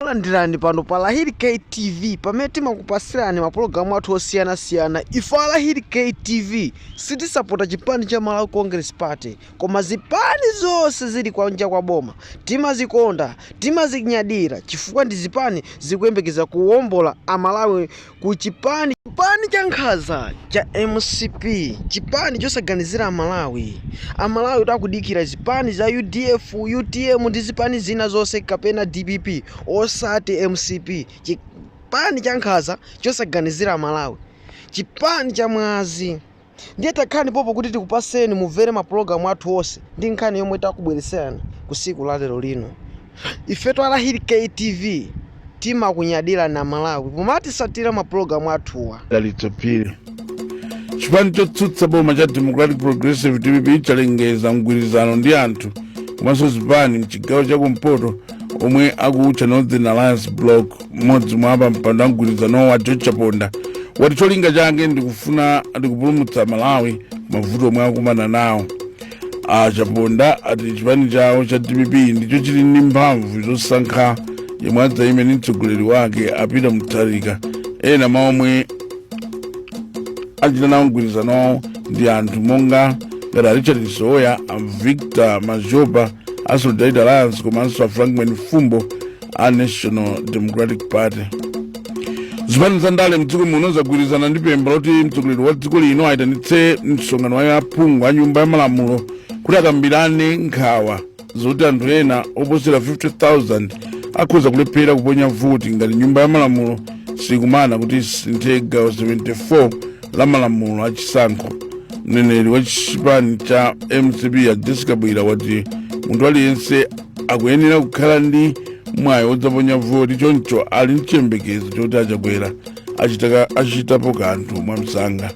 Landirani pano pa Lahiri K TV pamene timakupasirani mapulogalamu athu osiyanasiyana. Ife a Lahiri K TV sitisapota chipani cha Malawi Congress Party koma zipani zonse zili kwanja kwa boma timazikonda, timazinyadira chifukwa ndi zipani zikuyembekeza kuwombola Amalawi ku chipani chipani cha nkhaza cha mcp chipani chosaganizira amalawi amalawi akudikira zipani za udf utm ndi zipani zina zonse kapena dpp osati mcp chipani cha nkhaza chosaganizira amalawi chipani cha mwazi Ndiye takhani popo kuti tikupaseni mumvere mapulogalamu athu onse ndi nkhani yomwe takubwereserani ku siku la lero lino. Ifetu a Lahiri K TV timakunyadilani a Malawi pomatisatira mapulogalamu athuwa. Dalitso Phiri. Chipani chotsutsa boma cha Democratic Progressive dpp chalengeza mgwirizano ndi anthu komanso zipani mchigawo cha kumpoto omwe akuutcha Northern Alliance Block mmodzi mwa pampando wa mgwirizanowu a george chaponda wati cholinga chake ndikupulumutsa malawi m'mavuto omwe akumana nawo a chaponda ati chipani chawo cha dpp ndicho chili ndi mphamvu zosankha yemwe adzayime ndi mtsogoleri wake a peter mutharika ena mwa omwe achita nawo mgwirizanowu ndi anthu monga ngati a richard msowoya a victor madhlopa a solidarity alliance komanso a frank mwenifumbo a national democratic party zipani za ndale mdziko muno zagwirizana ndi pempho loti mtsogoleri wa dziko lino ayitanitse msonkhano wa aphungu a nyumba ya malamulo kuti akambirane nkhawa zoti anthu ena oposera 50000 akhoza kulephera kuponya voti ngati nyumba ya malamulo sikumana kuti isinthe gawo 74 la malamulo a chisankho mneneri wa chipani cha mcp a jessie kabwila wati munthu aliyense akuyenera kukhala ndi mwayi wodzaponya voti choncho ali ndi chiyembekezo choti a chakwera achitapo kanthu mwamsanga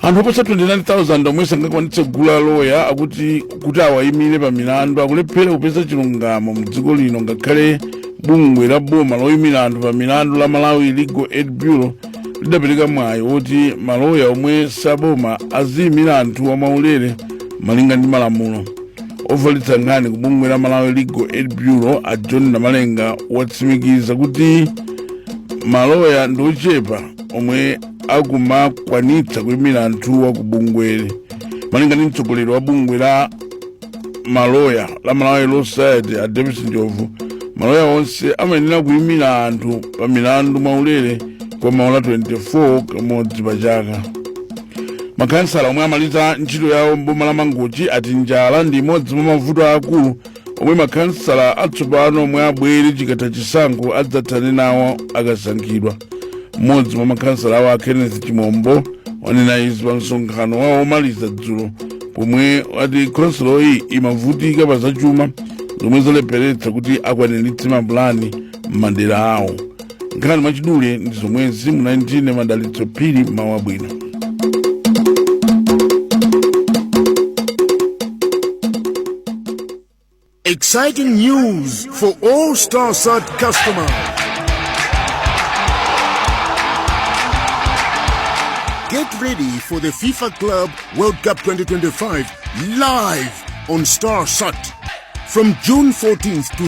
anthu oposa 29,000 omwe sangakwanitse kugula loya kuti awayimire pa milandu akulephera kupeza chilungamo mdziko lino ngakhale bungwe la boma loyimira anthu pa milandu la malawi legal aid bureau lidapereka mwayi woti maloya omwe si aboma aziyimira anthu mwaulere malinga ndi malamulo ofalitsa nkhani ku bungwe la malawi legal aid bureau a john namalenga watsimikiza kuti maloya ndi ochepa omwe akumakwanitsa kuyimira anthuwa ku bungweli malinga ndi mtsogoleri wa bungwe la maloya la malawi law society a davis njobvu maloya onse amayenera kuyimira anthu pa milandu mwaulere kwa maola 24 kamodzi pa chaka makhansala omwe amaliza ntchito yawo m'boma la mangochi ati njala ndi imodzi mwa mavuto aakulu omwe makhansala atsopano omwe abwere chikatha chisankho adzathane nawo akasankhidwa mmodzi mwa makhansalawo a kenneth chimombo wanena izi pa msonkhano wawo omaliza dzulo pomwe wati khonsoloyi imavutika pa zachuma zomwe zalepheretsa kuti akwaniritse mapulani m'madera awo nkhani mwachidule ndi zomwezi munali ndi ine madalitso phiri mawu abwino Exciting news for all StarSat customers. Get ready for the FIFA Club World Cup 2025 live on StarSat from June 14th to